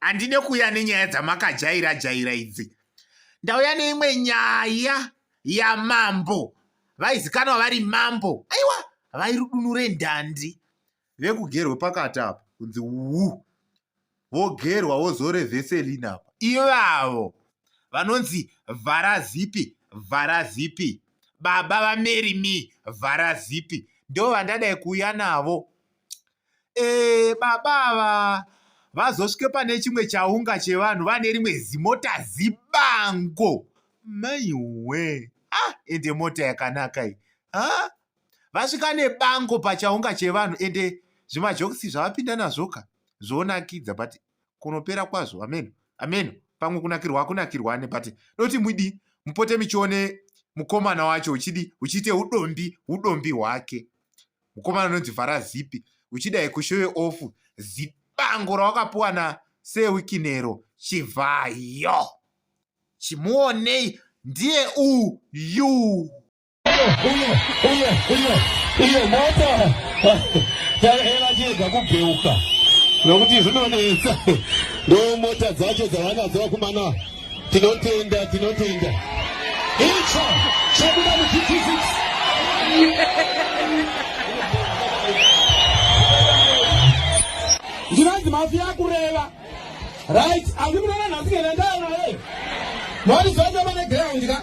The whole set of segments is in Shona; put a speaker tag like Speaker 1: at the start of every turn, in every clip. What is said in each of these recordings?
Speaker 1: handide kuuya nenyaya dzamakajaira jaira idzi ndauya neimwe nyaya yamambo vaizikanwa vari mambo aiwa vairudunure ndandi vekugerwe pakati apa kunzi wu vogerwa vozore veselin apa ivavo vanonzi vhara zipi vhara zipi baba vamerimi vhara zipi ndo vandadai kuuya navo ee baba ava vazosvike pane chimwe chaunga chevanhu vane rimwe zimota zibango maiwe ah ende mota yakanaka iyi ha ah, vasvika nebango pachaunga chevanhu ende zvimajokisi zvavapinda nazvoka zvonakidza but kunopera kwazvo ameno ameno pamwe kunakirwa akunakirwa ane but doti mwidi mupote michione mukomana wacho uchidi uchiite udombi udombi hwake mukomana unonzi vhara zipi uchida yekushowe off zibango rawakapuwa na sewikinero chivhayo chimuonei ndiye uyu
Speaker 2: elachiedza kubheuka nokuti zvinonetsa ndomota dzacho dzavanadzo vakumana Tinotenda, tinotenda. Icho chobuda muchiphysics. Ndinonzi mafia kureva. Right, andikunoona nhasi ngenda ndayo naye. Mari zvacho pane ground ka.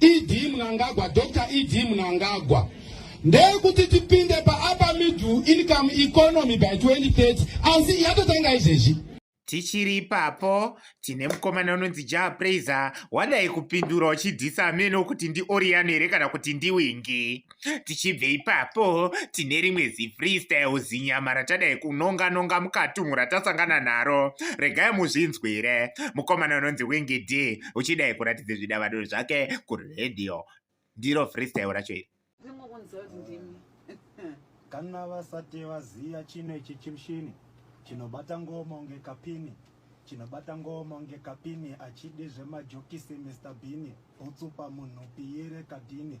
Speaker 2: ED Mnangagwa, Dr. ED Mnangagwa ndeyekuti tipinde paupper middle income economy by 2030 asi yatotanga izvezvi tichiri
Speaker 1: ipapo tine mukomana unonzi jah praiser wadai kupindura uchidhisa amene okuti ndioriano here kana kuti ndiwingi tichibve ipapo tine rimwe zifreestyle zinyama ratadai kunonga nonga mukatunhu ratasangana naro regai muzvinzwire mukomana unonzi wingi d uchidai kuratidza zvidavado zvake kuradio ndiro freestyle racho iri
Speaker 3: kana vasati vaziva chino ichi chimushini chinobata ngoma unge kapini chinobata ngoma unge kapini achidi zvemajokisi mr bini utsupa munhu piyere kadhini